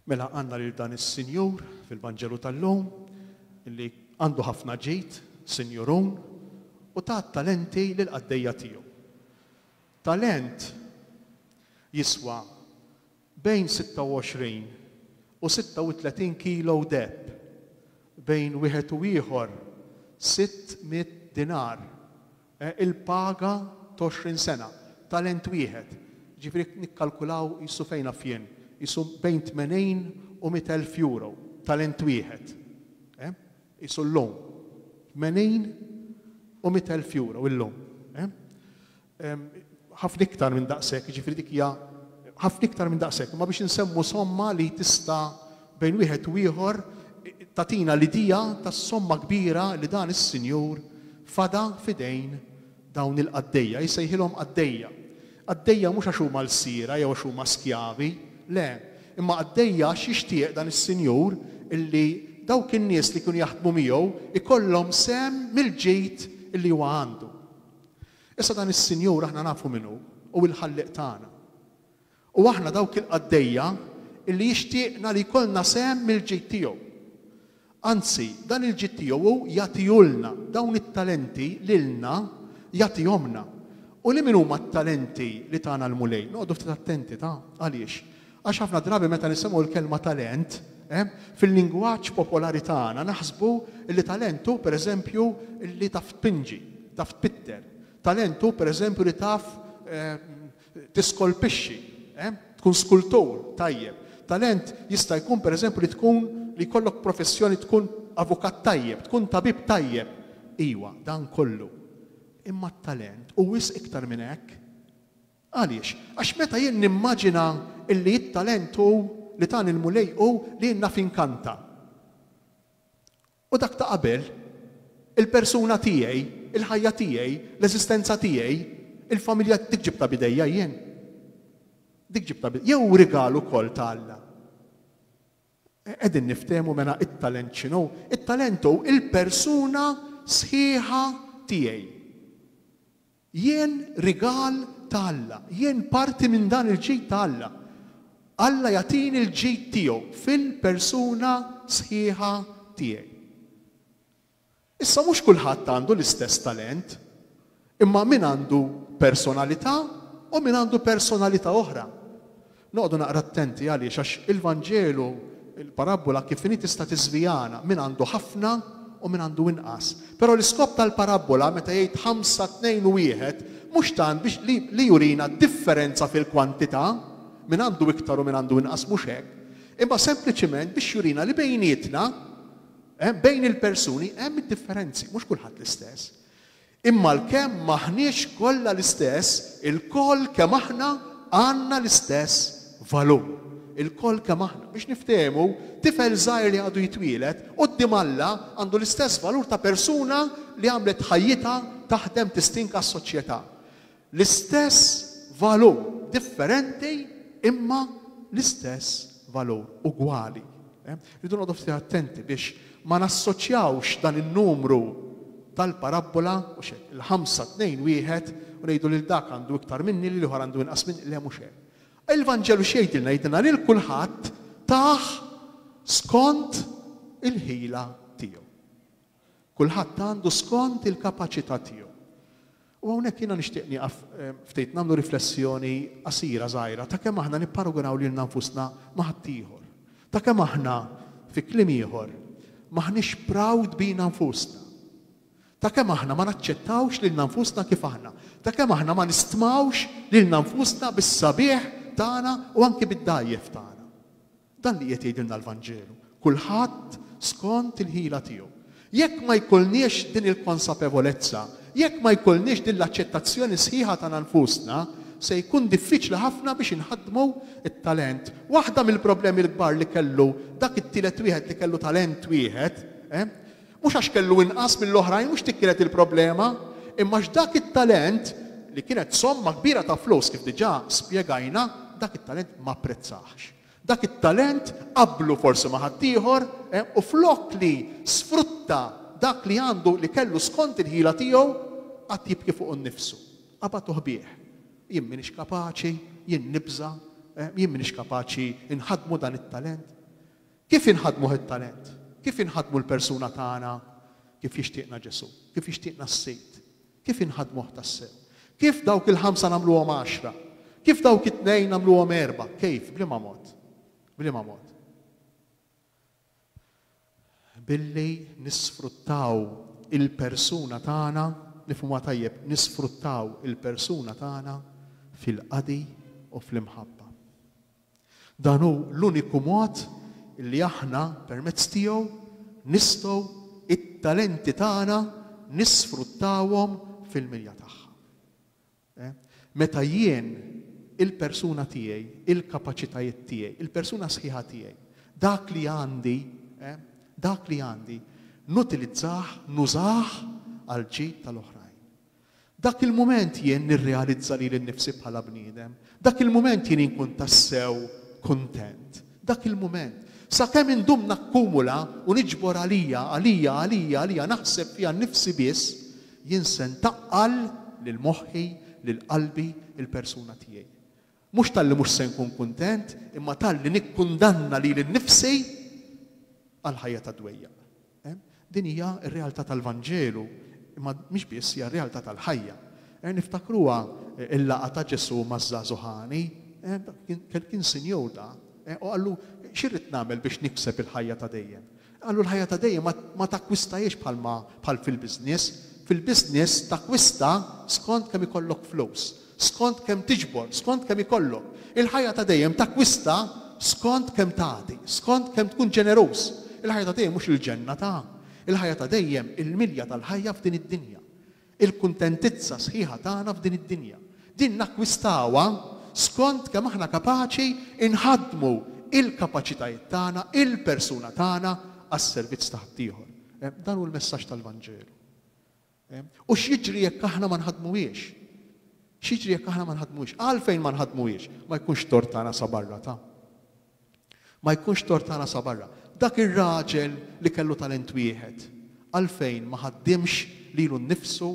Mela għanna lil dan is-sinjur fil-Vanġelu tal-lum li għandu ħafna ġid, sinjurun, u ta' talenti lil qaddejja tiegħu. Talent jiswa bejn 26 u 36 kilo deheb, bejn wieħed u ieħor sitt mitt dinar, il-paga t'għoxrin sena, talent wieħed, jiġifieri nikkalkulaw qisu fejn naf jien, qisu bejn tmenin u mitt elf euro, talent wieħed, qisu llum, tmenin u mitt elf euro illum. ħafna iktar minn daqshekk, jiġifieri dik hija ħafna iktar minn daqshekk, imma biex insemmu somma li tista' bejn wieħed u ieħor tagħtina l-idea tas-somma kbira li dan is-Sinjur fada f'idejn dawn il-qaddejja. Jsejħilhom qaddejja. Qaddejja mhux għax huma lsiera jew għax huma skjavi, le, imma qaddejja għax jixtieq dan is-Sinjur illi dawk in-nies li kienu jaħdmu miegħu jkollhom sehem mill-ġid illi huwa għandu. Issa dan is-Sinjur aħna nafu min hu, hu l-Ħallieq tagħna. U aħna dawk il-qaddejja li jixtieqna li jkollna sehem mill-ġid tiegħu. Anzi, dan il-ġid tiegħu hu jagħtihulna, dawn it-talenti lilna jagħtihomlna. U liema huma t-talenti li tana l-Mulej? Noqogħdu ftit attenti ta', għaliex? Għax ħafna drabi meta nisimgħu l-kelma talent, fil-lingwaġġ popolari tagħna naħsbu li talent hu, pereżempju, li taf tpinġi, taf tpitter. Talent hu, pereżempju, li taf tiskolpixxi, tkun skultur tajjeb. Talent jista' jkun, pereżempju, li tkun li jkollok professjoni, tkun avukat tajjeb, tkun tabib tajjeb. Iwa, dan kollu. Imma t-talent hu wisq iktar minn hekk. Għaliex? Għax meta jien nimmaġina illi t-talent hu, li tani l-Mulej hu li jien naf inkanta. U dak ta' qabel, il-persuna tiegħi, il-ħajja tiegħi, l-eżistenza tiegħi, il-familja, dik ġibtha b'idejja jien? Dik ġibtha b'idejja? Jew hu rigal ukoll ta' Alla? Qegħdin niftehmu mela t-talent x'inhu? It-talent hu l-persuna sħiħa tiegħi. Jien rigal ta' Alla. Jien parti minn dan il-ġid ta' Alla. Alla jagħtini l-ġid tiegħu fil-persuna sħiħa tiegħi. Issa mhux kulħadd għandu l-istess talent, imma min għandu personalità u min għandu personalità oħra. Noqogħdu naqra attenti għaliex għax il-Vanġelu, il-parabbola kif inhi tista' tiżvijana, min għandu ħafna u min għandu inqas. Però l-iskop tal-parabbola meta jgħid ħamsa, tnejn u wieħed mhux tant biex li li jurina d-differenza fil-kwantità, min għandu iktar u min għandu inqas mhux hekk, imma sempliċiment biex jurina li bejnietna, bejn il-persuni hemm id-differenzi, mhux kulħadd l-istess. Imma għalkemm m'aħniex kollha l-istess, ilkoll kemm aħna għandna l-istess valur. Ilkoll kemm aħna. Biex niftehmu, tifel żgħir li għadu jitwieled, quddiem Alla għandu l-istess valur ta' persuna li għamlet ħajjitha taħdem tistinka għas-soċjetà. L-istess valur, differenti imma l-istess valur, ugwali. Irridu noqogħdu ftit attenti biex ma nassoċjawx dan in-numru tal-parabbola, mhux hekk, il-ħamsa, tnejn, wieħed, u ngħidu lil dak għandu iktar minni, lil ieħor għandu inqas minni, le mhux hekk. Il-Vanġelu x'jgħidilna? Jgħidilna lil kulħadd tah skont il-ħila tiegħu. Kulħadd għandu skont il-kapaċità tiegħu. U hawnhekk jiena nixtieq nieqaf ftit nagħmlu riflessjoni qasira żgħira ta' kemm aħna nipparagunaw lilna nfusna ma' ħaddieħor. Ta' kemm aħna, fi kliem ieħor, m'aħniex proud bina nfusna. Ta' kemm aħna ma naċċettawx lilna nfusna kif aħna. Ta' kemm aħna ma nistmawx lilna nfusna bis-sabiħ tagħna u anki bid-dgħajjef tagħna. Dan li qiegħed jgħidilna l-Vanġelu, kulħadd skont il-ħila tiegħu. Jekk ma jkollniex din il-konsapevolezza, jekk ma jkollniex din l-aċċettazzjoni sħiħa tagħna nfusna, se jkun diffiċli ħafna biex inħaddmu t-talent. Waħda mill-problemi l-kbar li kellu dak it-tielet wieħed li kellu talent wieħed, Mhux għax kellu inqas mill-oħrajn, mhux dik kienet il-problema, imma għax dak it-talent, li kienet somma kbira ta' flus kif diġà spjegajna, dak it-talent ma apprezzahx. Dak it-talent qabblu forsi ma' ħaddieħor u flok li sfrutta dak li għandu, li kellu skont il-ħila tiegħu, qagħad jibki fuqu nnifsu. Qabatuh bih. Jien m'iniex kapaċi, jien nibża', jien m'iniex kapaċi nħaddmu dan it-talent. Kif inħaddmuh it-talent? Kif inħaddmu l-persuna tagħna kif jixtieqna Ġesù? Kif jixtieqna s-Sid? Kif inħaddmuh tassew? Kif dawk il-ħamsa nagħmluhom għaxra? Kif dawk it-tnejn nagħmluhom erbgħa? Kejf? B'liema mod? B'liema mod? Billi nisfruttaw il-persuna tagħna, nifhmuha tajjeb, nisfruttaw il-persuna tagħna fil-qadi u fl-imħabba. Dan hu l-uniku mod li aħna permezz tiegħu nistgħu t-talenti tagħna nisfruttawhom fil-milja tagħha. Meta jien il-persuna tiegħi, il-kapaċitajiet tiegħi, il-persuna sħiħa tiegħi, dak li għandi, dak li għandi, nutilizzah, nużah għall-ġid tal-oħrajn. Dak il-mument jien nirrealizza lili nnifsi bħala bniedem. Dak il-mument jien inkun tassew kuntent. Dak il-mument. Sakemm indum nakkumula u niġbor għalija, għalija, għalija, għalija, naħseb fiha nnifsi biss, jien se ntaqqal lil moħħi, lil qalbi, il-persuna tiegħi. Mhux talli mhux se nkun kuntent, imma talli nikkundanna lili nnifsi għal ħajja ta' dwejjaq. Din hija r-realtà tal-Vanġelu, imma mhix biss, hija r-realtà tal-ħajja. Niftakruha l-laqgħa ta' Ġesù maż-żagħżugħ għani. Kien sinjur da, u qallu, Xi rrid nagħmel biex nikseb il-ħajja ta' dejjem? Qalu l-ħajja ta' dejjem ma takkwistahiex bħalma bħal fil-business. Fil-business takkwista skont kemm ikollok flus, skont kemm tiġbor, skont kemm ikollok. Il-ħajja ta' dejjem takkwista skont kemm tagħti, skont kemm tkun ġeneruż. Il-ħajja ta' dejjem mhux il-ġenna ta'. Il-ħajja ta' dejjem il-milja tal-ħajja f'din id-dinja. Il-kuntentizza sħiħa tagħna f'din id-dinja. Din nakkwistawha skont kemm aħna kapaċi nħaddmu l-kapaċitajiet tagħna, il-persuna tagħna għas-servizz ta' ħaddieħor. Dan hu l-messaġġ tal-Vanġelu. U x'jiġri jekk aħna ma nħaddmuhiex? X'jiġri jekk aħna ma nħaddmuhiex? Għalfejn ma nħaddmuhiex? Ma jkunx tort tagħna sa barra ta'. Ma jkunx tort ta' rasha barra. Dak ir-raġel li kellu talent wieħed, għalfejn ma ħaddimx lilu nnifsu,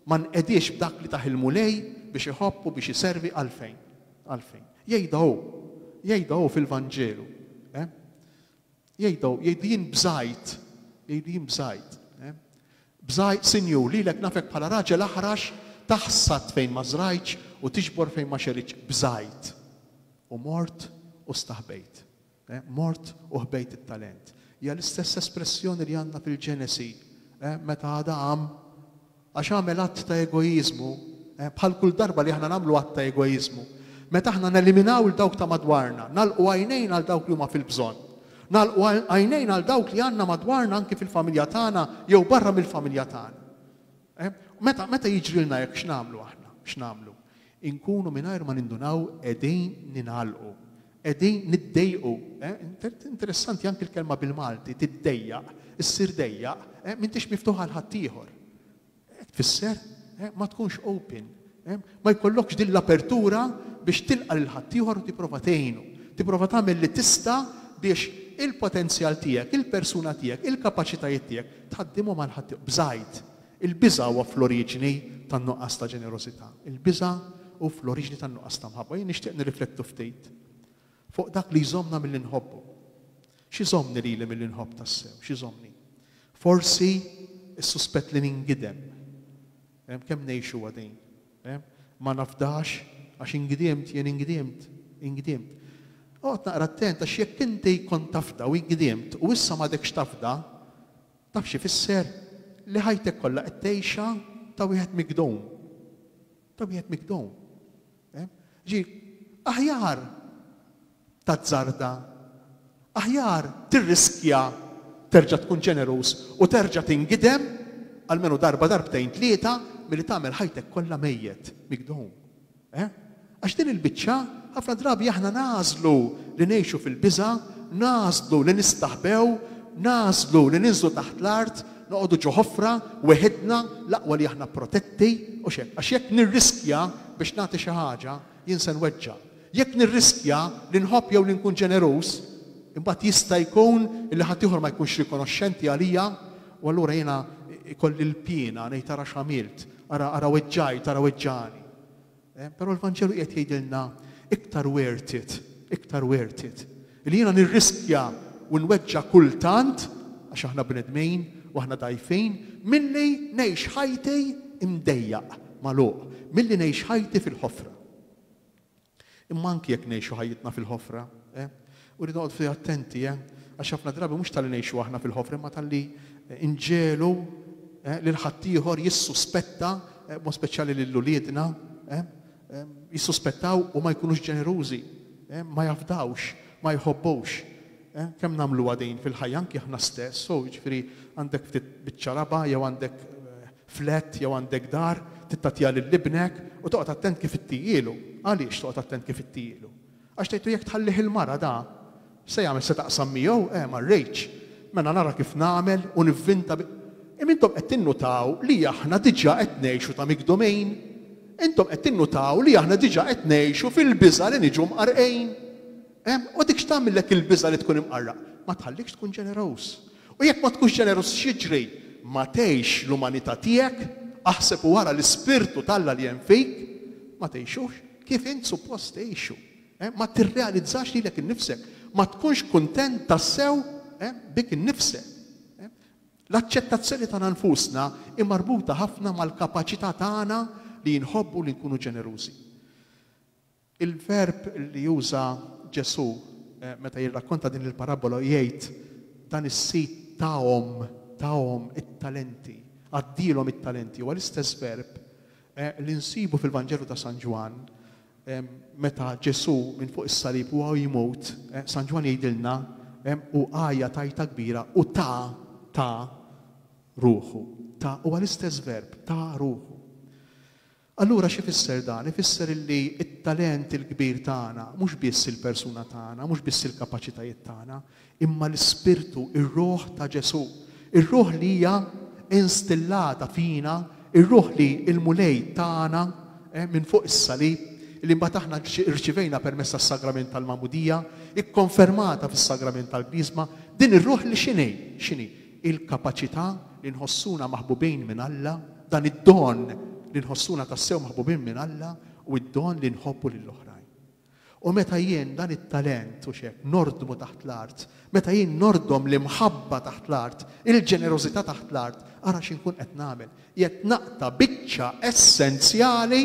ma nqediex b'dak li tah il-Mulej biex iħobb u biex iservi, għalfejn? Għalfejn? Jgħidha hu. Jgħidha hu fil-Vanġelu. Eh? Jgħidha hu, jgħidli jien bżajt, jgħidli jien bżajt. Eh? Bżajt, Sinjur, lilek nafek bħala raġel aħrax taħsad fejn ma żrajtx u tiġbor fejn ma xeritx. Bżajt. U mort u staħbejt. Mort u ħbejt it-talent. Hija l-istess espressjoni li għandna fil-Ġenesi meta Adam, għax għamel att ta' egoiżmu, bħal kull darba li aħna nagħmlu att ta' egoiżmu, meta aħna neliminaw 'l dawk ta' madwarna, nagħlqu għajnejna għal dawk li huma fil-bżonn, nagħlqu għajnejna għal dawk li għandna madwarna anki fil-familja tagħna jew barra mill-familja tagħna. Meta jiġrilna hekk x'nagħmlu aħna? X'nagħmlu? Inkunu mingħajr ma nindunaw qegħdin ningħalqu. Qegħdin niddejjqu. Interessanti anki l-kelma bil-Malti, tiddejjaq, issir dejjaq, m'intix miftuħ għal ħaddieħor. Hekk tfisser ma tkunx open. Ma jkollokx din l-apertura biex tilqa' lil ħaddieħor u tipprova tgħinu. Tipprova tagħmel li tista' biex il-potenzjal tiegħek, il-persuna tiegħek, il-kapaċitajiet tiegħek tħaddimhom għal ħaddieħor. Bżajt. Il-biża' huwa fl-oriġini tan-nuqqas ta' ġenerożità. Il-biża' hu fl-oriġini tan-nuqqas ta' mħabba. Jien nixtieq nirriflettu ftit fuq dak li jżommna milli nħobbu. X'iżommni lili milli nħobb tassew? X'iżommni? Forsi s-suspett li ningidem. Kemm ngħixuha din? Ma nafdax għax ingidiemt, jien ingidiemt, ingidiemt. Oqgħod naqra attent għax jekk inti kont tafda u ingidiemt u issa m'għadekx tafda, Taf x'ifisser li ħajtek kollha qed tgħixha ta' wieħed migdum? Ta' wieħed migdum. Ehm? Ġi, aħjar tazzarda, aħjar tirriskja terġa' tkun ġeneruż u terġa' tingidem almenu darba darbtejn tlieta milli tagħmel ħajtek kollha mejjet migdum. Eh? Għax din il-biċċa, ħafna drabi aħna nagħżlu li ngħixu fil-biża', nagħżlu li nistaħbew, nagħżlu li ninżlu taħt l-art, noqogħdu ġo ħofra, weħidna, l-aqwa li aħna protetti, u x'hekk. Għax jekk nirriskja biex nagħti xi ħaġa, jien se nweġġa'. Jekk nirriskja li nħobb jew li nkun ġeneruż, imbagħad jista' jkun li ħaddieħor ma jkunx rikonoxxenti għalija, u allura jiena ikolli l-piena ngħid ara x'għamilt. Ara, ara weġġajt, ara weġġagħni. Eh, però l-Vanġelu qiegħed jgħidilna iktar worth it, iktar worth it. Li jiena nirriskja u nweġġa' kultant, għax aħna bnedmin u aħna dgħajfin, milli ngħix ħajti mdejjaq, magħluq, milli ngħix ħajti fil-ħofra. Imma anki jekk ngħixu ħajjitna fil-ħofra, eh? U rridu noqogħdu ftit attenti, eh? Għax ħafna drabi mhux talli ngħixu aħna fil-ħofra imma talli nġegħlu lil ħaddieħor jissuspetta, b'mod speċjali lil uliedna, jissuspettaw u ma jkunux ġenerużi, ma jafdawx, ma jħobbux. Kemm nagħmluha din fil-ħajja anki aħna stess, oh, jiġifieri għandek ftit biċċa raba' jew għandek Flat jew għandek dar, tittatiha lil ibnek u toqgħod attent kif ittijielu. Għaliex toqgħod attent kif ittijielu? Għax tgħidlu jekk tħallih il-mara da, x'se jagħmel se taqsam miegħu? Eh, ma rridx. Mela nara kif nagħmel u nivvinta bi. Im intom qed tinnutaw li aħna diġà qed ngħixu ta' mikdumejn? Intom qed tinnutaw li aħna diġà qed ngħixu fil-biża' li niġu mqarrqejn? Ehm, u dik x'tagħmillek il-biża' li tkun imqarraq? Ma tħallikx tkun ġeneruż. U jekk ma tkunx ġeneruż x'jiġri? Ma tgħix l-umanità tiegħek, aħseb u ara l-ispirtu t'Alla li hemm fik, ma tgħixux kif int suppost tgħixu. Ma tirrealizzax lilek innifsek, ma tkunx kuntent tassew bik innifsek. L-aċċettazzjoni tagħna nfusna hi marbuta ħafna mal-kapaċità tagħna li nħobbu u li nkunu ġenerużi. Il-verb li juża Ġesù meta jirrakkonta din il-parabbola u jgħid, Dan is-sid tahom, tahom it-talenti, għaddielhom it-talenti, huwa l-istess verb li nsibu fil-Vanġelu ta' San Ġwann meta Ġesù minn fuq is-salib u hawn jmut, San Ġwann jgħidilna, u għajat għajta kbira u ta, ta ruħu. Ta, huwa l-istess verb, ta ruħu. Allura x'ifisser dan? Ifisser illi t-talent il-kbir tagħna mhux biss il-persuna tagħna, mhux biss il-kapaċitajiet tagħna, imma l-Ispirtu, ir-Ruħ ta' Ġesù, ir-Ruħ li hija instillata fina, ir-Ruħ li l-Mulej tana minn fuq is-salib, li mbagħad aħna rċivejna permezz tas-Sagrament tal-Magħmudija, ikkonfermata fis-Sagrament tal-Griżma, din ir-Ruħ li x'inhi? X'inhi? il-kapaċità li nħossuna maħbubin minn Alla, dan id-don li nħossuna tassew maħbubin minn Alla u d-don li nħobbu lill-oħrajn. U meta jien dan it-talent, hux hekk, nordmu taħt l-art, meta jien nordom l-imħabba taħt l-art, il-ġenerożità taħt l-art, ara xi nkun qed nagħmel. Qiegħed naqta' biċċa essenzjali,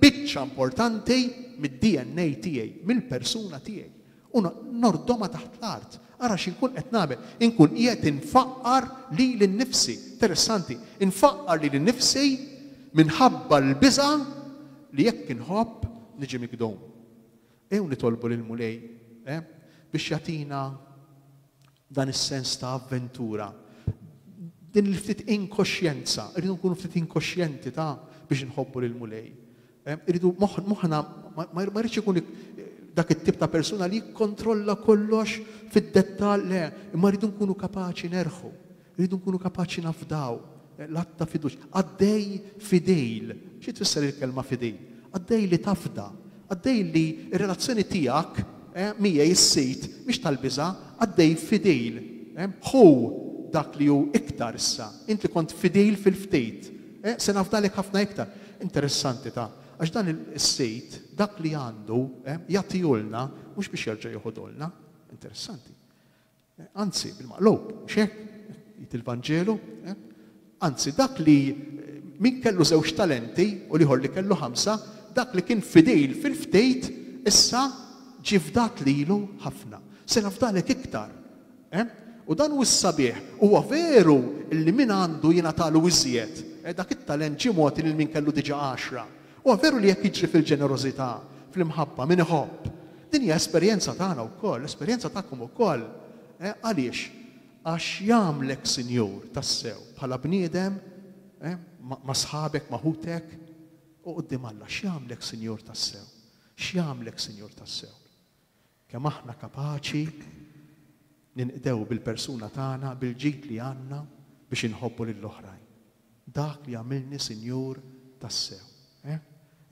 biċċa importanti mid-DNA tiegħi, mill-persuna tiegħi. U nordhomha taħt l-art. Ara xi nkun qed nagħmel. Inkun qiegħed infaqqar lili nnifsi. Interessanti. Infaqqar lili nnifsi minħabba l-biża' li jekk inħobb niġi migdum. Ejjew nitolbu lill-Mulej biex jagħtina Dan is-sens ta' avventura, din il-ftit inkoxjenza, irridu nkunu ftit inkoxjenti ta' biex inħobbu lill-Mulej. Irridu moħħna ma jridx ikun dak it-tip ta' persuna li jikkontrolla kollox fid-dettall, le, imma rridu nkunu kapaċi nerħu, rridu nkunu kapaċi nafdaw, L-att ta' fiduċja. Qaddej fidil. Xi tfisser il-kelma fidil? Qaddej li tafda. Qaddej li r-relazzjoni tiegħek miegħi s-Sid mhix tal-biża'. Qaddej fidil. Ħu dak li hu iktar issa. Int li kont fidil fil-ftit, se nafdalek ħafna iktar. Interessanti ta'. Għax dan is-Sid, dak li għandu, jagħtihulna mhux biex jerġa' joħodhulna. Interessanti. Anzi, bil-maqlub, mhux hekk? jgħid il-Vanġelu. Anzi, dak li, min kellu żewġ talenti u l-ieħor li kellu ħamsa, dak li kien fidil fil-ftit, issa ġie fdat lilu ħafna. Se nafdalek iktar. U dan hu s-sabiħ. Huwa veru li min għandu jingħatalu iżjed, dak it-talent ġie mogħti lil min kellu diġà għaxra. Huwa veru li jekk jiġri fil-ġenerożità, fl-imħabba, min iħobb. Din hija esperjenza tagħna wkoll, esperjenza tagħkom ukoll. Eh, għaliex? Għax jagħmlek sinjur, tassew, bħala bniedem, eh, ma' sħabek, ma' ħutek, u quddiem Alla, x'jagħmlek sinjur tassew? X'jagħmlek sinjur tassew? Kemm aħna kapaċi ninqdew bil-persuna tagħna, bil-ġid li għandna biex inħobbu lill-oħrajn. Dak li għamilni sinjur tassew. Eh?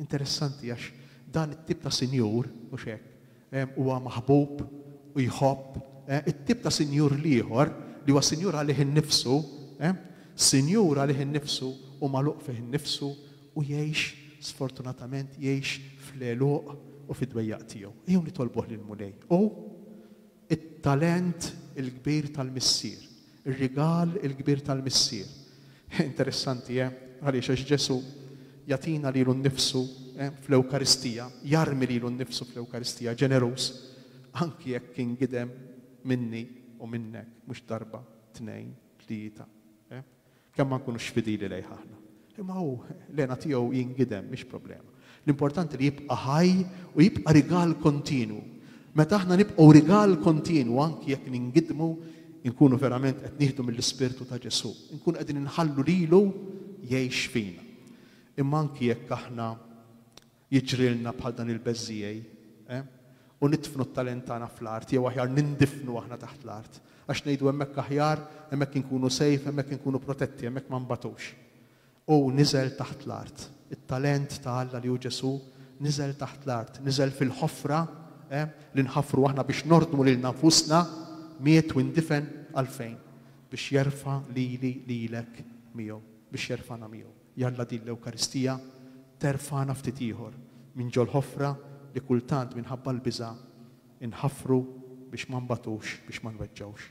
Interessanti għax dan it-tip ta' sinjur, mhux hekk, eh, huwa maħbub u jħobb, eh, it-tip ta' sinjur l-ieħor li huwa sinjur għalih innifsu, sinjur għalih innifsu u magħluq fih innifsu u jgħix, sfortunatament jgħix fl-għeluq u fid-dwejjaq tiegħu. Ejjew nitolbuh lill-Mulej. U t-talent il-kbir tal-Missier, ir-rigal il-kbir tal-Missier. Interessanti, eh? Għaliex għax Ġesù jagħtina lilu nnifsu fl-Ewkaristija, jarmi lilu nnifsu fl-Ewkaristija, ġeneruż, anki jekk kien gidem minni u minnek, mhux darba, tnejn, tlieta. Kemm ma nkunux fidili lejh aħna. Imma hu, l-hena tiegħu jingidem, mhix problema. L-importanti li jibqa' ħaj u jibqa' rigal kontinwu. Meta aħna nibqgħu rigal kontinwu anki jekk ningidmu, inkunu verament qed nieħdu mill-Ispirtu ta' Ġesù. Inkunu qegħdin inħallu lilu jgħix fina. Imma anki jekk aħna Jiġrilna bħal dan il-beżżiegħi, eh? U nidfnu t-talent tagħna fl-art, jew aħjar nindifnu aħna taħt l-art. Għax ngħidu hemmhekk aħjar, hemmhekk inkunu safe, hemmhekk inkunu protetti, hemmhekk ma nbagħtux. Hu niżel taħt l-art. It-talent ta' Alla li hu Ġesù niżel taħt l-art, niżel fil-ħofra, eh, li nħaffru aħna biex nordmu lilna nfusna, miet u indifen għalfejn? Biex jerfa' lili, lilek miegħu, biex jerfagħna miegħu. Jalla din l-Ewkaristija terfagħna ftit ieħor minn ġol-ħofra li kultant minħabba l-biża' inħaffru biex ma nbagħtux, biex ma nweġġgħux.